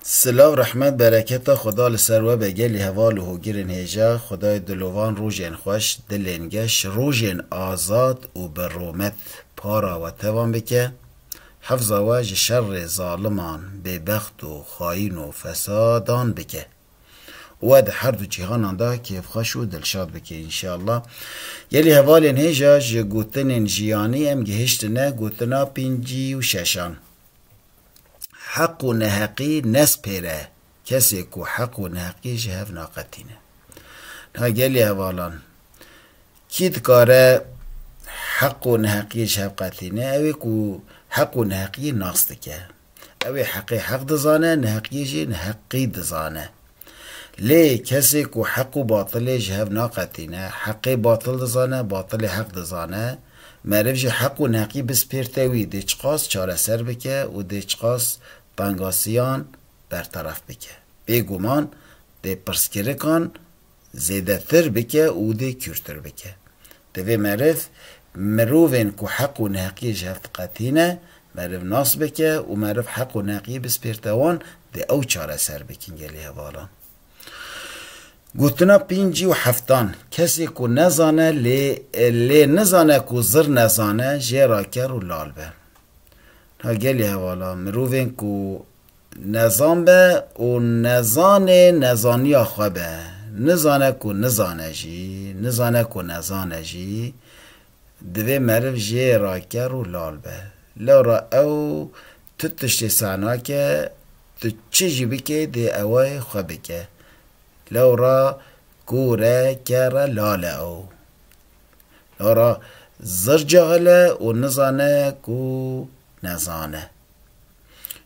Silav rehmet bereketa xuda li ser we be gelî heval û hogirên hêja xudayê dilovan rojên xweş dilên geş rojên azad û bi romet para we tevan bike hefza we ji şerrê zaliman bêbext û xayîn û fesadan bike û we di her du cîhanan de kêfxweş û dilşad bike înşallah gelî hevalên hêja ji gotinên jiyanî em gihiştine gotina pêncî û şeşan. Heq û neheqî nespêre kesê ku heq û neheqî ji hev naqetîne. Niha gelê hevalan kî dikare heq û neheqî ji hev qetîne ew ê ku heq û neheqî nas dike. Ew ê heqê heq dizane, neheqî jî neheqî dizane. Lê kesê ku heq û batilê ji hev naqetîne, heqê batil dizane, batilê heq dizane, meriv jî heq û neqî bispêrte wî dê çiqas çareser bike û dê çiqas tengasiyan berteref bike. Bêguman dê pirsgirikan zêdetir bike û dê kûrtir bike. Divê meriv mirovên ku heq û neheqiyê ji hev diqetîne, meriv nas bike û meriv heq û neheqiyê bispêrte wan dê ew çareser bikin gelê hevalan. Gotina pêncî û heftan, Kesê ku nezane lê lê nizane ku zir nezane jê ra ker û lal be. Niha gelê hevalan mirovên ku Nezan be û nezanê nezaniya xwe be, nizane ku nizane jî, nizane ku nezane jî, divê meriv jê re ker û lal be. Lewra ew tu tiştê seh nake, tu çi jî bikê dê ewe yê xwe bike. Lewra kûr e, ker e, lal e ew. Lewra zir cahil e û nizane ku nezane.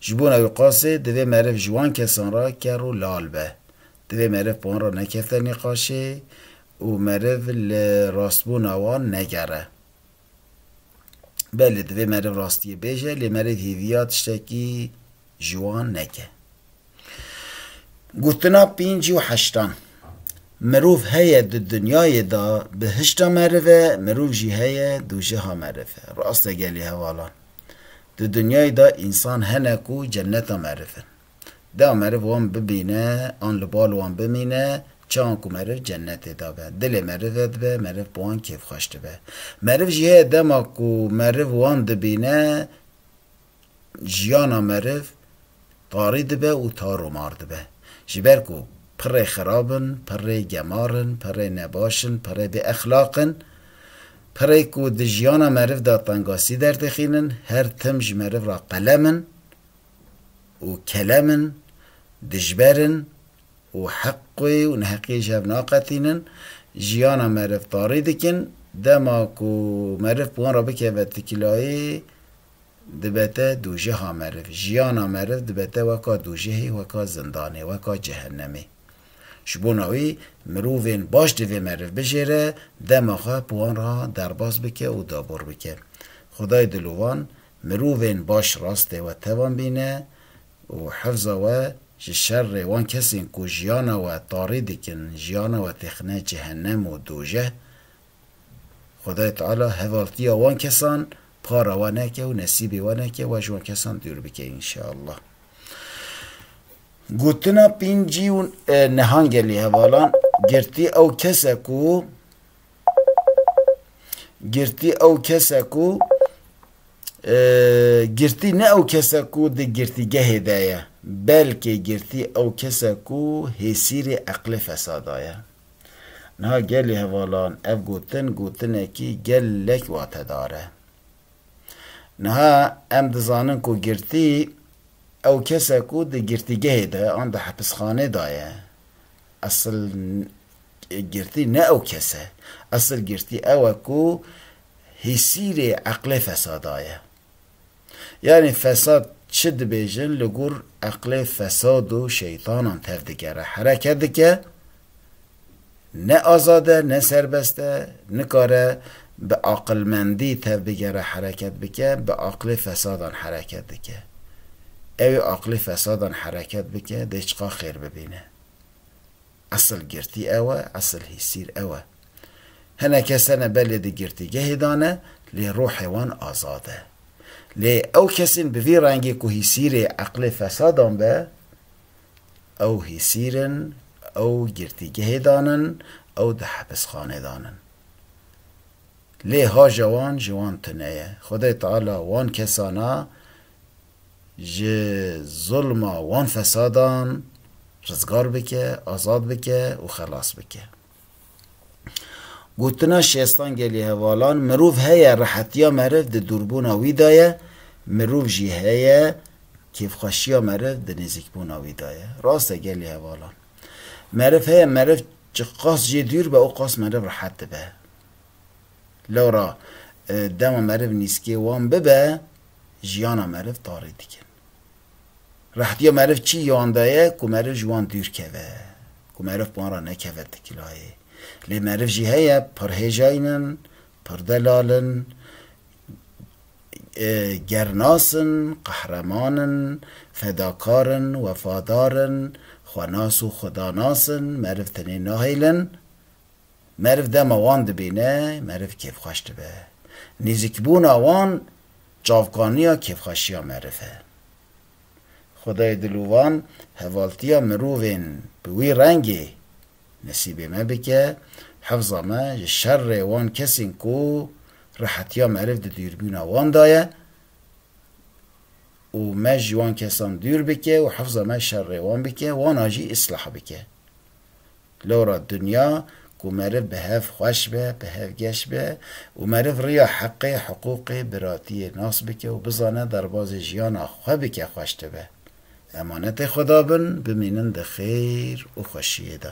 Ji bona wî qasê divê meriv ji wan kesan re ker û lal be. Divê meriv bi wan re nekevte nîqaşê û meriv li rastbûna wan negere. Belê divê meriv rastiyê bêje lê meriv hêviya tiştekî ji wan neke. Gotina pêncî û heştan. Mirov heye di dinyayê de bihişta meriv e, mirov jî heye dojeha meriv e. Rast e gelê hevalan. Di dinyayê de însan hene ku cenneta meriv in. Dea meriv wan bibîne an li bal wan bimîne, çawan ku meriv cennetê de be. Dilê meriv vedibe, meriv bi wan kêfxweş dibe. Meriv jî heye dema ku meriv wan dibîne, jiyana meriv tarî dibe û tarûmar dibe. Ji ber ku pirrê xerab in, pirrê gemar in, pirrê nebaş in, pirrê bêexlaq in, pirrê ku di jiyana meriv de tengasî derdixînin, her tim ji meriv re qelem in û kelem in, dijber in û heqê û neheqiyê ji hev naqetînin, jiyana meriv tarî dikin, dema ku meriv bi wan re bikeve tikilayê, Dibete dûjiha meriv. Jiyana meriv dibete weka dûjihê, weka zindanê, weka cehennemê. Ji bona wî mirovên baş divê meriv bijêre, dema xwe bi wan re derbas bike û dabor bike. Xwedayê dilovan mirovên baş rastê we tevan bîne û hifza we ji şerê wan kesên ku jiyana we tarî dikin, jiyana we têxine cehennem û dûjih Xwedayê Teala hevaltiya wan kesan para we neke û nesîbê we neke we ji wan kesan dûr bike înşeallah. Gotina pîncî û nehangê li hevalan girtî ew kes e ku girtî ew kes e ku girtî ne ew kes e ku di girtîgehê de ye belkê girtî ew kes e ku hêsîrê eqlê fesada ye. Niha gelê hevalan ev gotin gotinekî gelek watedar e. Niha em dizanin ku girtî ew kes e ku di girtîgehê de an di hepisxanê de ye. Esil girtî ne ew kes e. Esil girtî ew e ku hîsîrê eqlê fesada ye. Yanî fesad çi dibêjin li gor eqlê fesad û şeytanan tevdigere. Herekedike ne azad e ne serbest e, nikare bi aqilmendî tevbigere hereket bike, bi aqlê fesadan hereket dike. Ewê aqlê fesadan hereket bike dê çiqa xêr bibîne. Esil girtî ew e, esil hîsîr ew e. Hinek kes tene belê di girtîgehê de ne, lê ruhê wan azad e. Lê ew kesên bi vî rengî ku hîsîrê eqlê fesadan be, ew hîsîr in, ew girtîgehê de nin, ew di hepisxanê de nin. Lê haja wan ji wan tune ye. Xwedayê Teala wan kesan a. ji zulma wan fesadan rizgar bike, azad bike û xelas bike. Gotina Şêstan Gelî Hevalan, Mirov heye rehetiya meriv di dûrbûna wî de ye, mirov jî heye kêfxweşiya meriv di nêzîkbûna wî de ye. Rast e Gelî Hevalan. Meriv heye meriv çi qas jê dûr be û qas meriv rehet dibe. Lewra dema meriv nîskê wan bibe, jiyana meriv tarê dikin. Rehtiya meriv çi yan de ye ku meriv ji wan dûr keve, ku meriv bi wan re nekeve tikilayê. Lê meriv jî heye pirhêjayn in, pirdelal in, gernas in, qehreman in, fedakar in, wefadar in, xwenas û xudanas in, meriv tenê nahêlin, Meriv dema wan dibîne, meriv kêfxweş dibe. Nêzîkbûna wan çavkaniya kêfxweşiya meriv e. Xwedayê dil û van hevaltiya mirovên bi wî rengê nesîbê me bike, hifza me ji şerê wan kesên ku rehetiya meriv di dûrbîna wan de ye û me ji wan kesan dûr bike û hifza me şerê wan bike, wana jî îslah bike. Lora dinya ku meriv bi hev xweş be, bi hev geş be û meriv riya heqê, hiqûqê, biratiyê nas bike û bizane derbazê jiyana xwe bike xweş dibe. Emanetê Xweda bin, bimînin di xêr û xweşiyê de.